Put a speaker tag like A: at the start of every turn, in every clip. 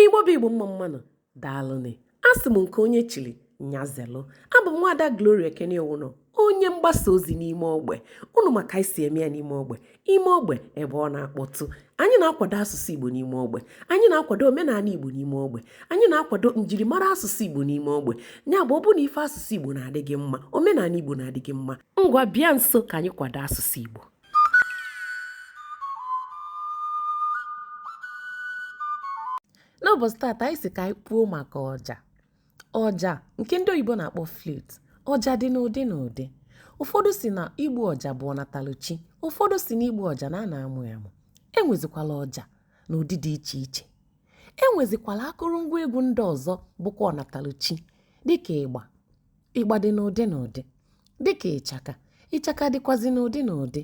A: igbo bụ igbo mma mma nụ daalụnị asị m nke onye chiri nya zelụ abụ m nwaada gloria ekene owuno onye mgbasa ozi n'ime ogbe unu ma ka anyị si eme ya n'ime ogbe ime ogbe ebe ọ na-akpọtụ anyị na-akwado asụsụ igbo n'ime ogbe anyị na-akwado omenala igbo n'ime ogbe anyị na-akwado njirimara asụsụ igbo n'ime ogbe ya bụ ọ bụ na ife asụsụ igbo na-adị gị mma omenala igbo na-adị gị mma ngwa bịa nso ka anyị kwado asụsụ igbo n'ụbọchị taata anyị si ka anyị kwuo maka ọja ọja nke ndị oyibo na-akpọ flute ọja dị n'ụdị n'ụdị ụfọdụ si na igbu ọja bụ ọnataluchi ụfọdụ si na igbu ọja na a na-amụ ya amụ enwezikwala ọja n'ụdị dị iche iche enwezikwala akụrụngwa egwu ndị ọzọ bụkwa ọnataluchi dịka ịgba Ịgba dị n'ụdị n'ụdị, dị ka ịchaka. Ịchaka dịkwazị n'ụdị n'ụdị.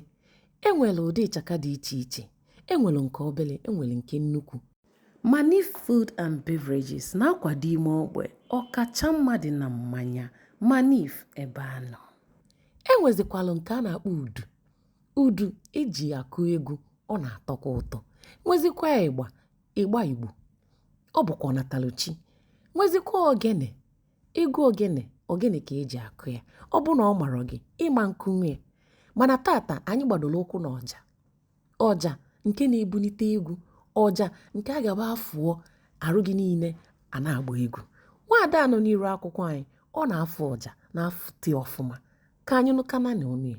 A: E nwere ụdị ịchaka dị iche iche. E nwere nke obere, e nwere nke nnukwu. Manif Food and Beverages na-akwado ime ogbe, ọkacha mma dị na mmanya. Manif ebe a nọ. E nwezikwara nke a na-akpọ udu. Udu eji akụ egwu, ọ na-atọkwa ụtọ. Nwezikwa ịgba, ịgba Igbo. Ọ bụkwa ọnataluchi. Nwezikwa ogene. Egwu ogene, ogene ka eji akụ ya. Ọ bụ na ọ marọ gị, ị ma nkụnwu ya. Mana taata anyị gbadoro ụkwụ na ọja. Ọja nke na-ebunite egwu, ọja nke a ga-abụ a fụọ arụ gị niile a na-agba egwu. Nwaada a nọ n'iru akwụkwọ anyị, ọ na-afụ ọja, na-afụte ọfụma. Ka anyị nụkananị ọnụ ya.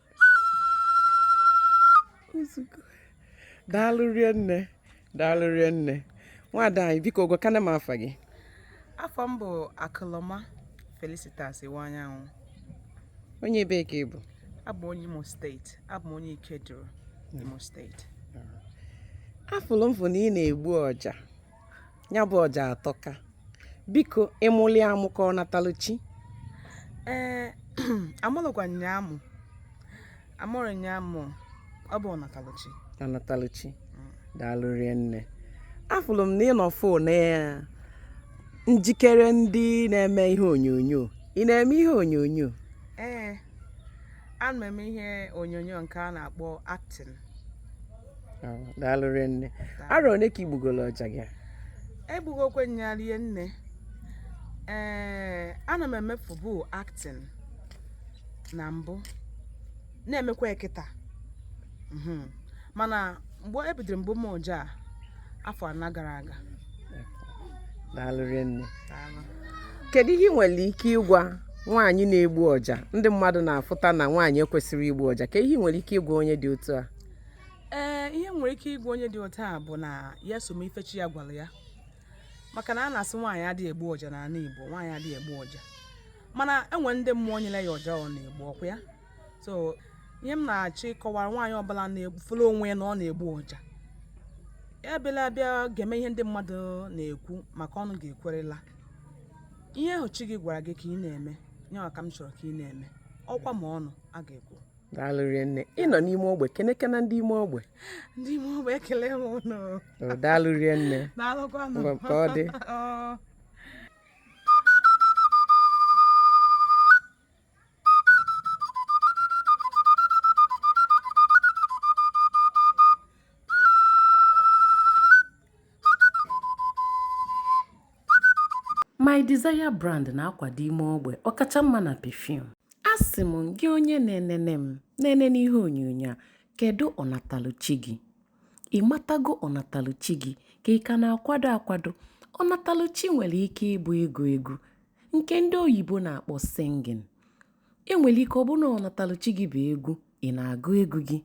B: daalụ rinne daalụ rinne nwaada anyị biko gwa kana m afa gị afa m bụ
C: akụlọma felicitas iwuanyanwụ
B: onye ebe ka ị bụ abụ m onye
C: imo steeti abụ m onye ikeduru imo steeti
B: afụlụ m fụ na ị na-egbu ọja ya bụ ọja atọka biko ị mụli amụ ka ọ ọnataluchi
C: ee amụlụkwa m ya amụ amụrụ m ya amụ ọ bụ ọnataluchi ọnataluchi
B: daalụ rinne afụrụ m na ị nọ fụ na ya njikere ndị na-eme ihe onyonyo ị na-eme ihe onyonyo ee
C: ana m eme ihe onyonyo nke a na-akpọ acting
B: daalụ rinne arọ one ka i gbugolo ọja gị
C: egbugokwe nya rinne ee ana m emefubu acting na mbụ na-emekwa ya kịta mhm. mana mgbe ebidoro m gbuma ọja afọ anọ gara aga
B: daalụ rinne kedu ihe ị nwere ike ịgwa nwaanyị na-egbu ọja ndị mmadụ na-afụta na nwaanyị ekwesịghị igbu ọja kee ihe ị nwere ike ịgwa onye dị otu a ee
C: ihe m nwere ike ịgwa onye dị otu a bụ na ya some ife chi ya gwara ya maka na a na-asị nwaanyị adịghị egbu ọja n'ala Igbo nwaanyị adịghị egbu ọja mana enwere ndị mmụọ nyere ya ọja ọ na-egbu ọkwa ya so ihe m na-achọ ịkọwara nwaanyị ọbụla fụlụ onwe ya na ọ na-egbu ọja ebela bịa geme ihe ndị mmadụ na-ekwu maka ọnụ ga-ekwurịrị ihe ahụ chi gị gwara gị ka ị na-eme ya ka m chọrọ ka ị na-eme ọkwa ma ọnụ a ga-ekwu daalụ rinne
B: ị nọ n'ime ogbe kenekene ndị ime ogbe ndị ime
C: ogbe ekele m ụnụ daalụ rinne
B: daalụkwanụ ka
C: ọ dị
A: My Desire brand na-akwado ime ogbe ọkacha mma na perfume. Asị m gị onye na-enene m na-enene n'ihe onyonyo a kedu ọnataluchi gị? Ị matago ọnataluchi gị ka ị ka na-akwado akwado? Ọnataluchi nwere ike ịbụ ịgụ egwu, nke ndị oyibo na-akpọ singing e nwere ike ọ bụrụ na ọnataluchi gị bụ egwu ị na-agụ egwu gị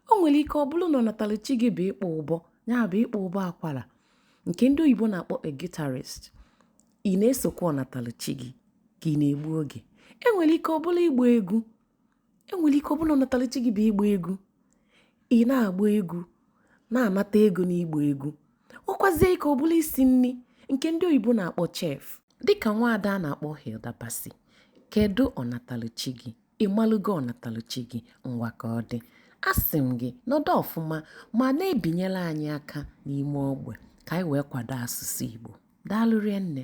A: o nwere ike ọ bụrụ na ọnataluchi gị bụ ịkpọ ụbọ ya bụ ịkpọ ụbọ akwara nke ndị oyibo na-akpọ a guitarist ị na-esokwa ọnataluchi gị ka ị na-egbu oge e nwere ike ọ bụrụ ịgba egwu enwere ike ọ bụrụ na ọnataluchi gị bụ ịgba egwu ị na-agba egwu na-anata ego n'ịgba egwu nwekwazie ike ọ bụrụ isi nri nke ndị oyibo na-akpọ chef dịka nwaada a na-akpọ Hilda Baci kedu ọnataluchi gị ịmalụgo ọnataluchi gị ngwa ka ọ dị asị m gị nọdụ ọfụma ma na-ebinyere anyị aka n'ime ogbe ka anyị wee kwado asụsụ Igbo daalụ rinne